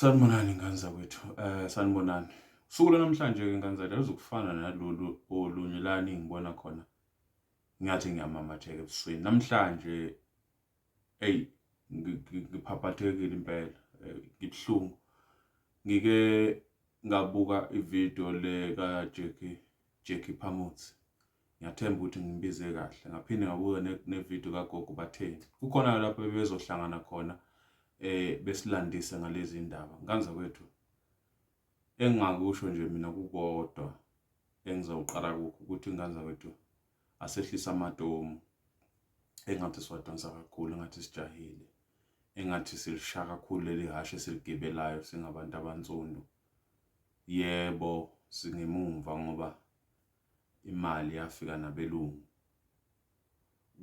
Sanibonani ngane zakwethu. Eh sanibonani. Usuku lwanamhlanje ke ngane zakwethu luzokufana nalolu olunye lani ngibona khona. Ngiyathi ngiyamamatheka ebusweni. Namhlanje hey ngiphaphathekile impela. Eh, ngibuhlungu. Ngike ngabuka ivideo le ka Jackie Jackie Phamuthi. Ngiyathemba ukuthi ngimbize kahle. Ngaphinde ngabuka ne-video kagogo batheni. Kukhona lapho bebezohlangana khona eh besilandise ngalezi ndaba. Nkanza kwethu engingakusho nje mina kukodwa engizawuqala kukho ukuthi nkanza kwethu asehlisa amatomu engathi siwadonsa kakhulu engathi sijahile engathi silisha kakhulu leli hashe siligibelayo singabantu abansundu yebo singemumva ngoba imali yafika nabelungu.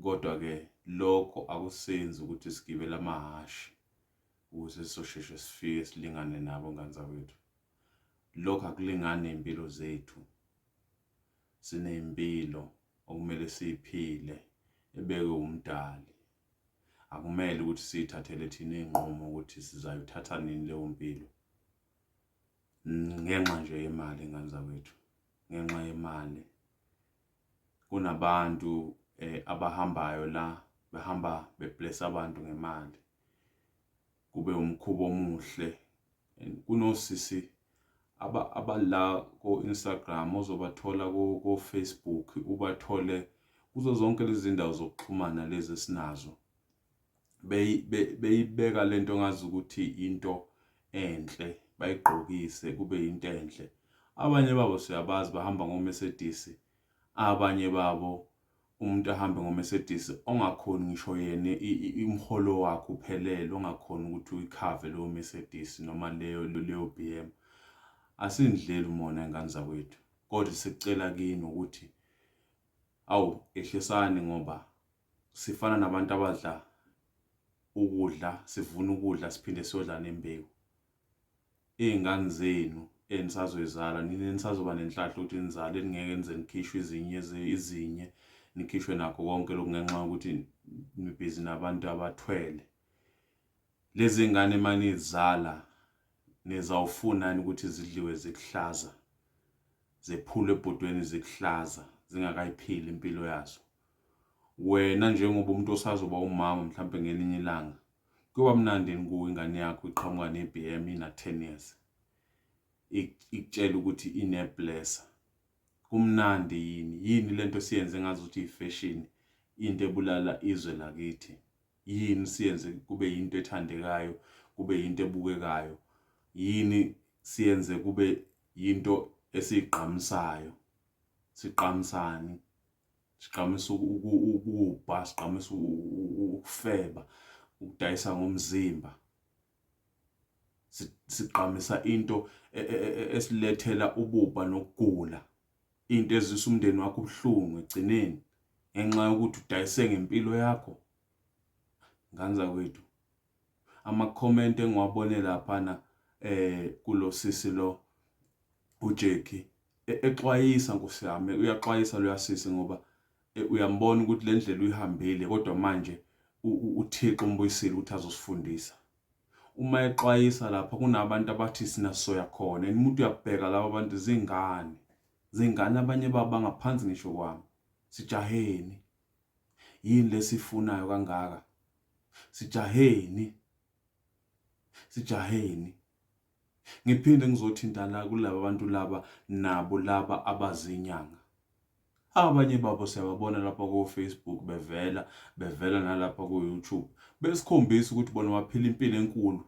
Kodwa-ke lokho akusenzi ukuthi sigibele amahhashi ukuze sizosheshe sifike silingane nabo ngane zakwethu. Lokho akulingani ney'mpilo zethu. Siney'mpilo okumele siyiphile ebekwe umdali. Akumele ukuthi siyithathele thina iy'nqumo ukuthi sizayithatha nini leyo mpilo. ngenxa nje yemali ingane zakwethu ngenxa yemali kunabantu eh, abahambayo la behamba bebless abantu ngemali kube umkhubo omuhle and kunosisi aba abala ko Instagram ozobathola ko ko Facebook ubathole kuzo zonke lezi zindawo zokuxhumana lezi esinazo beyibeka le nto ngazi ukuthi into enhle bayigqokise kube into enhle abanye babo siyabazi bahamba ngoMercedes abanye babo umuntu ahambe ngoMercedes ongakhoni ngisho yena umholo wakhe uphelele ongakhoni ukuthi uyikhave leyo Mercedes noma leyo leyo BM asindleli umona ingane zakwethu kodwa sicela kini ukuthi awu ehlisani ngoba Sifana nabantu abadla ukudla, sivuna ukudla siphinde siyodla nembewu. Iy'ngane zenu enisazoyizala nini enisazoba nenhlahla ukuthi nizale ningeke nize nikhishwe izinye izinye nikhishwe nakho konke lokhu ngenxa yokuthi nibhizi nabantu abathwele Lezi ngane manizala nizawufunani ukuthi zidliwe zikuhlaza zephulwe ebhodweni zikuhlaza zingakayiphili impilo yazo wena njengoba umuntu osazoba umama mhlawumbe ngelinye ilanga kuyoba mnandi kuwe ingane yakho iqhamuka ne-bm ina-ten years ikutshela ukuthi ineblesa kumnandi yini yini lento siyenze ngazuthi ifeshini into ebulala izwe lakithi yini siyenze kube yinto ethandekayo kube yinto ebukekayo yini siyenze kube yinto esiyigqamisayo siqhamisani siqhamisa ukubha siqhamisa ukufeba ukudayisa ngomzimba siqhamisa into e, e, e, esilethela ububa nokugula into ezisa umndeni wakho ubuhlungu egcineni ngenxa yokuthi udayise ngempilo yakho ngane zakwethu ama-comment engiwabone laphana eh kulo sisi lo uJackie e-, exwayisa nkosi yami uyaxwayisa loyasisi ngoba e, uyambona ukuthi le ndlela uyihambile kodwa manje uThixo umbuyisile ukuthi azosifundisa Uma exwayisa lapha kunabantu abathi sina soya khona and umuntu uyabheka laba bantu zingane zingane abanye baba ngaphansi ngisho kwami sijaheni yini lesifunayo kangaka sijaheni sijaheni Ngiphinde ngizothinta la kulaba bantu laba nabo laba abazinyanga. Abanye babo siyababona lapha ko-Facebook bevela, bevela nalapha ku-YouTube. Besikhombisa ukuthi bona baphila impilo enkulu.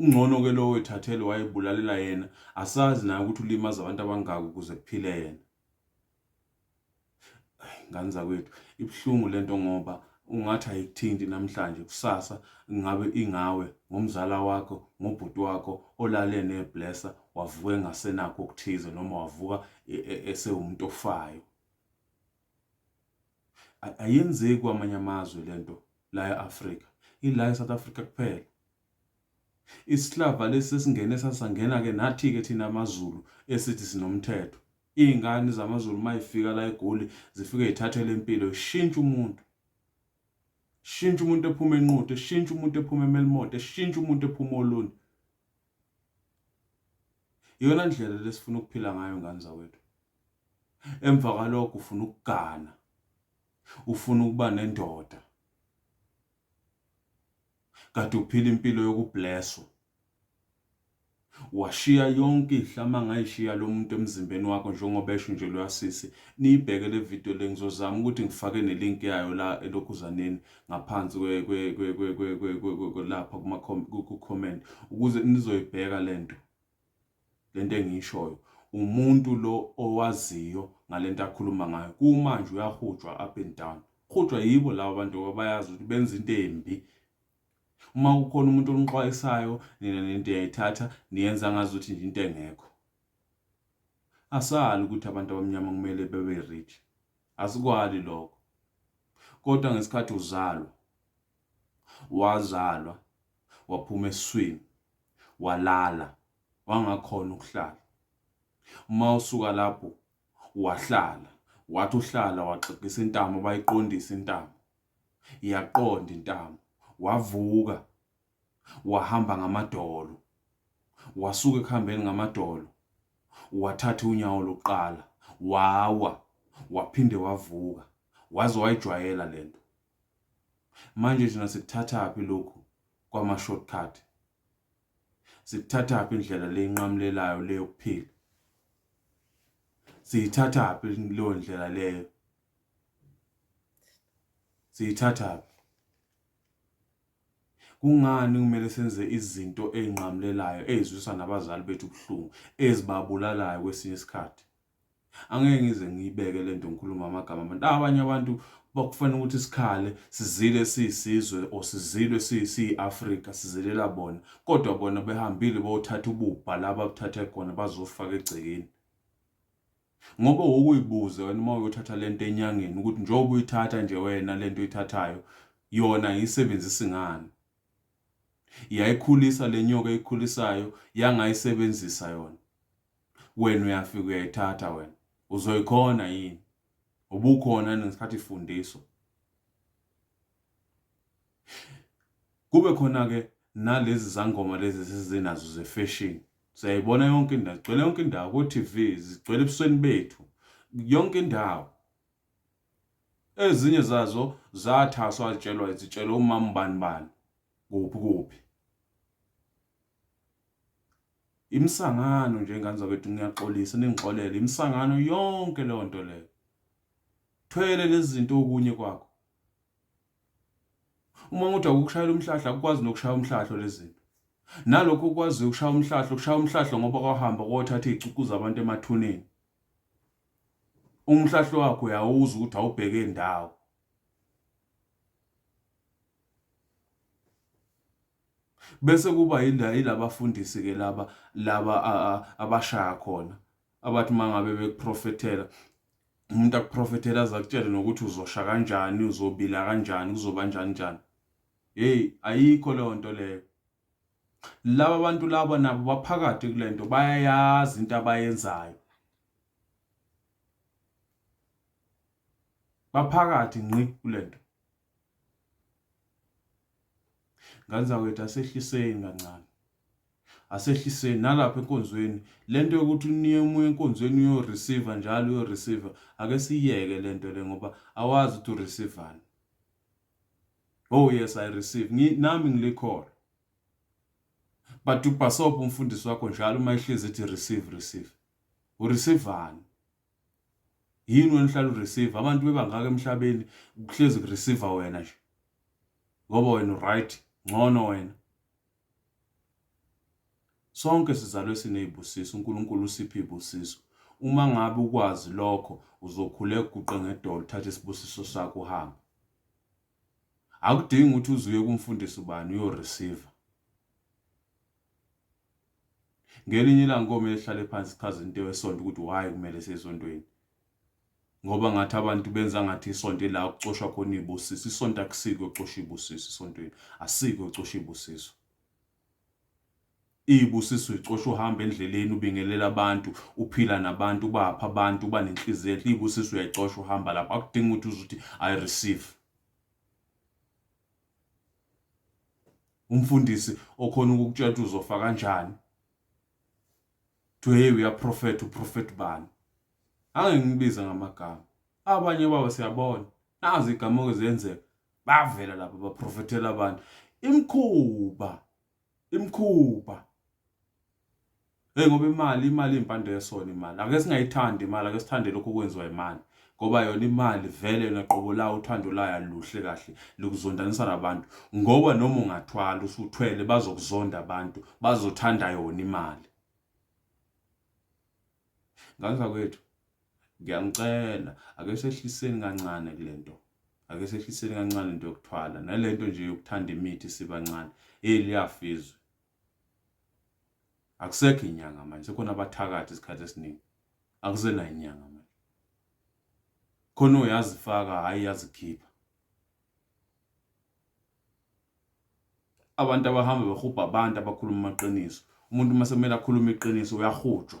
Ungcono ke lowo ethathele wayebulalela yena, asazi naye ukuthi ulimaza abantu abangaki ukuze kuphile yena. ngane zakwethu ibuhlungu lento ngoba ungathi ayikuthinti namhlanje kusasa ngabe ingawe ngomzala wakho ngobhuti wakho olale neblessa wavuka engasenakho okuthize noma wavuka e, e, esewumuntu ofayo ayenzeki kwamanye amazwe lento la eAfrika ila eSouth Africa kuphela Isihlava lesi sesingene sasangena ke nathi ke thina maZulu esithi sinomthetho. Izingane zamaZulu mayifika la eGoli zifike zithathele impilo ishintsha umuntu. Shintsha umuntu ephuma enquthe, shintsha umuntu ephuma emelmote, shintsha umuntu ephuma oluni. Iyona ndlela lesifuna ukuphila ngayo ngane zawethu. Emva kwalokho ufuna ukugana. Ufuna ukuba nendoda. Kade uphila impilo yokublesswa. Washiya yonke ihlama angayishiya lo muntu emzimbeni wakho njengoba esho nje loya sisi. Niyibheke le video le ngizozama ukuthi ngifake nelink yayo la elokhuzaneni ngaphansi lapha kuma-comment ukuze nizoyibheka le nto. lento engiyishoyo umuntu lo owaziyo ngalento akhuluma ngayo kumanje uyahujwa up and down hujwa yibo laba bantu abayazi ukuthi benza into embi uma kukhona umuntu onixwayisayo nina nento yayithatha niyenza ngazuthi nje into engekho asali ukuthi abantu abamnyama kumele bebe rich asikwali lokho kodwa ngesikhathi uzalwa wazalwa waphuma esiswini walala wangakhona ukuhlala uma usuka lapho wahlala wathi uhlala waxegisa intamo bayiqondisa intamo iyaqonda intamo wavuka wahamba ngamadolo wasuka ekuhambeni ngamadolo wathatha unyawo lokuqala wawa waphinde wavuka waze wayijwayela lento Manje thina sikuthathaphi lokhu kwama shortcut? Sikuthathaphi indlela le inqamulelayo le yokuphila? Siyithathaphi leyo ndlela leyo? Siyithathaphi? Kungani kumele senze izinto ezinqamulelayo ezizwisa nabazali bethu ubuhlungu ezibabulalayo kwesinye isikhathi? Angeke ngize ngiyibeke lento ngikhuluma amagama abantu abanye abantu bakufanele ukuthi sikhale sizile siyisizwe or sizilwe siyi-Afrika sizilela bona kodwa bona behambile bothatha ububha la babuthathe khona bazofaka egcekeni ngoba wokuyibuza wena uma uyothatha lento enyangeni ukuthi njengoba uyithatha nje wena lento oyithathayo yona yisebenzisi ngani yayikhulisa lenyoka ekhulisayo yangayisebenzisa yona wena uyafika uyayithatha wena uzoyikhona yini ubukhona ngesikhathi ifundiso kube khona ke nalezi zangoma lezi sizinazo ze fashion siyayibona yonke indawo igcwele yonke indawo ko TV zigcwele ebusweni bethu yonke indawo ezinye zazo zathaswa zitshelwa zitshelwa umama bani bani kuphi kuphi Imisangano nje ngane zakwethu ngiyaxolisa ningixolele imisangano yonke leyo nto leyo. Thwele lezi zinto okunye kwakho. Uma uthi akukushayela umhlahla akukwazi nokushaya umhlahlo lezi zinto. Nalokho ukwazi ukushaya umhlahlo, ukushaya umhlahlo ngoba kwahamba kothatha izicuku zabantu emathuneni. Umhlahlo wakho uyawuza ukuthi awubheke indawo. Bese kuba yila yilabafundisi-ke laba laba abashaya khona abathi uma ngabe bekuprofethela umuntu akuprofethela aze akutshele nokuthi uzosha kanjani uzobila kanjani kuzoba njani njani heyi ayikho leyo nto leyo laba abantu laba nabo baphakathi kule nto bayayazi into abayenzayo baphakathi ngqi kule nto Ngane zakwethu asehliseni kancane. Asehliseni nalapha enkonzweni lento yokuthi uniye umuntu enkonzweni uyo receive njalo uyo receive ake siyeke lento le ngoba awazi ukuthi u receivani. Oh yes I receive. Ngi nami ngilikhona. But ubhasobha umfundisi wakho njalo uma ehlezi ethi receive receive. U receivani? yini wena uhlala ureceive abantu bebangaka emhlabeni kuhlezi kureceive wena nje ngoba wena right ngcono wena sonke sizalwe sinezibusiso uNkulunkulu usiphe ibusiso uma ngabe ukwazi lokho uzokhule uguqe ngedolo uthathe isibusiso sakho uhambe akudingi ukuthi uzuye kumfundisi ubani uyoreceive Ngelinye ilanga inkomo ehlale phansi ichaza into yesonto ukuthi why kumele sesontweni. Ngoba ngathi abantu benza ngathi isonto ila kucoshwa khona ibusiso. Isonto akusiko ucosha ibusiso esontweni. Asiko ucosha ibusiso. Ibusiso icosha uhamba endleleni ubingelela abantu, uphila nabantu, ubapha abantu, uba nenhliziyo enhle. Ibusiso uyayicosha uhamba lapho. Akudingi ukuthi uzuthi I receive. umfundisi okhona ukukutshela ukuthi uzofa kanjani to hey uyaprofetha uprofethi bani angeke ngibize ngamagama abanye babo siyabona nazi igama okuzenzeka bavela lapha baprofethela abantu imkhuba imkhuba hey ngoba imali imali impande yesona imali ake singayithandi imali ake sithande lokho okwenziwa imali ngoba yona imali vele yona qobo layo uthando layo luhle kahle likuzondanisa nabantu ngoba noma ungathwala usuthwele bazokuzonda abantu bazothanda yona imali ngani zakwethu Ngiyanicela ake sehliseni kancane kule nto. Ake sehliseni kancane into yokuthwala. Nale nto nje yokuthanda imithi sibancane. Hey liyafizwe. Akusekho inyanga manje sekhona abathakathi isikhathi esiningi. Akusena inyanga manje. Khona uyazifaka hayi yazikhipha. Abantu abahamba behubha abantu abakhuluma amaqiniso. Umuntu uma semele akhulume iqiniso uyahujwa.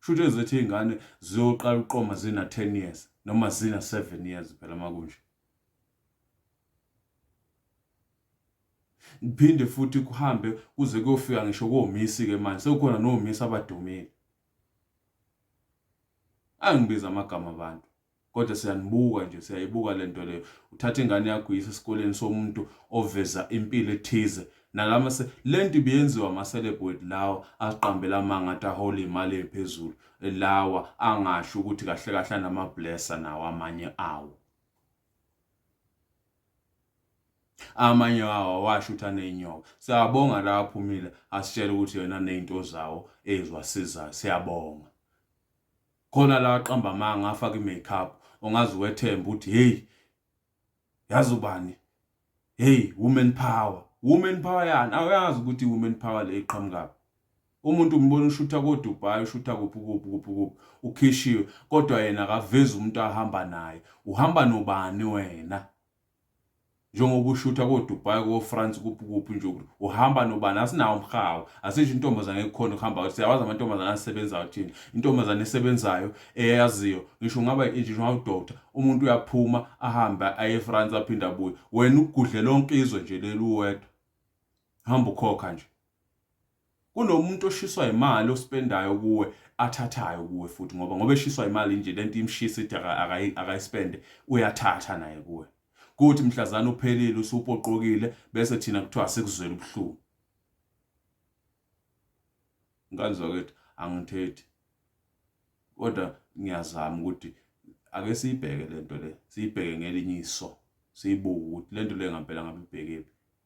Shuthi ezethu izingane ziyoqala uqoma zina 10 years noma zina 7 years phela makunje. Ngiphinde futhi kuhambe kuze kuyofika ngisho komisi ke manje sekukhona nomisi abadumile. Angibiza amagama abantu. kodwa siyanibuka nje siyayibuka le nto leyo uthatha ingane yakho uyisa esikoleni somuntu oveza impilo ethize nalama se le nto ibiyenziwa amacelebweti lawa aziqambela amanga athi ahola imali ephezulu lawa angasho ukuthi kahle kahle anamablessa nawo amanye awo amanye awo washo ukuthi aneyinyoka siyabonga la aphumile asitshela ukuthi yena nezinto zawo ezwasizayo siyabonga Khona la aqamba amanga afaka i-make up ongaze wethembe ukuthi hey yazi ubani hey woman power woman power yani awuyazi ukuthi woman power le iqhamukapi umuntu umbona ushutha koDubai ushutha kuphi kuphi kuphi kuphi ukhishiwe kodwa yena akavezi umuntu ahamba naye uhamba nobani wena njengokushutha koDubai koFrance kuphi kuphi nje ukuthi uhamba nobani asinawo umhawu asisho intombazane ekukhona ukuhamba ukuthi siyawazi amantombazane asebenzayo thina intombazane esebenzayo eyaziyo ngisho ngaba nje ngawudokotha umuntu uyaphuma ahambe aye eFrance aphinde abuye wena ugudle lonke izwe nje leli uwedwa hamba ukhokha nje Kunomuntu oshiswa imali ospendayo kuwe athathayo kuwe futhi ngoba ngoba eshiswa imali nje lento imshisa ithi akayispende uyathatha naye kuwe. Kuthi mhlazana uphelile usupoqokile bese thina kuthiwa sikuzwela ubuhlungu. Nkanzwa kwethu angithethi. Kodwa ngiyazama ukuthi ake siyibheke lento le, siyibheke ngelinye iso, siyibuke ukuthi lento le ngampela ngabe ibhekephi.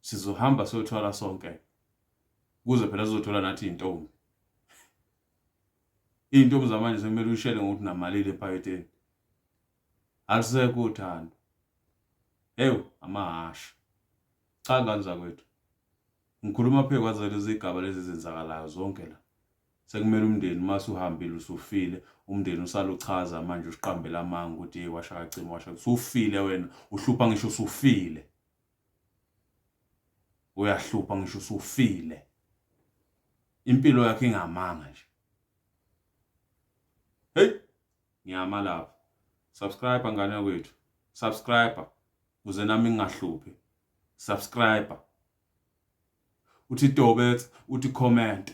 sizohamba soyothwala sonke kuze phela sizothola nathi izintombi izintombi zamanje sekumele uyishele ngokuthi namalile ephaketheni alisekho uthando ewu amahasha cha ngani zakwethu ngikhuluma phezu kwazo lezi zigaba lezi ezenzakalayo zonke la sekumele umndeni uma suhambile usufile umndeni usaluchaza manje usiqambela amanga ukuthi hey washa kacima washa usufile wena uhlupha ngisho usufile uyahlupha ngisho usufile impilo yakhe ingamanga nje hey ngiyama lapho subscribe ngane yakwethu subscribe kuze nami ngingahluphi subscribe uthi dobet uthi comment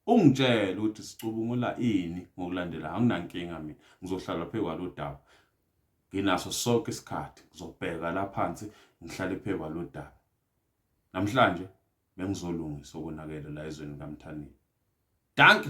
ungitshele ukuthi sicubungula ini ngokulandela anginankinga mina ngizohlala phezu kwalodaba nginaso sonke isikhathi ngizobheka la phansi ngihlale phezu kwalodaba namhlanje bengizolungisa ukonakele la ezweni kamthanile danke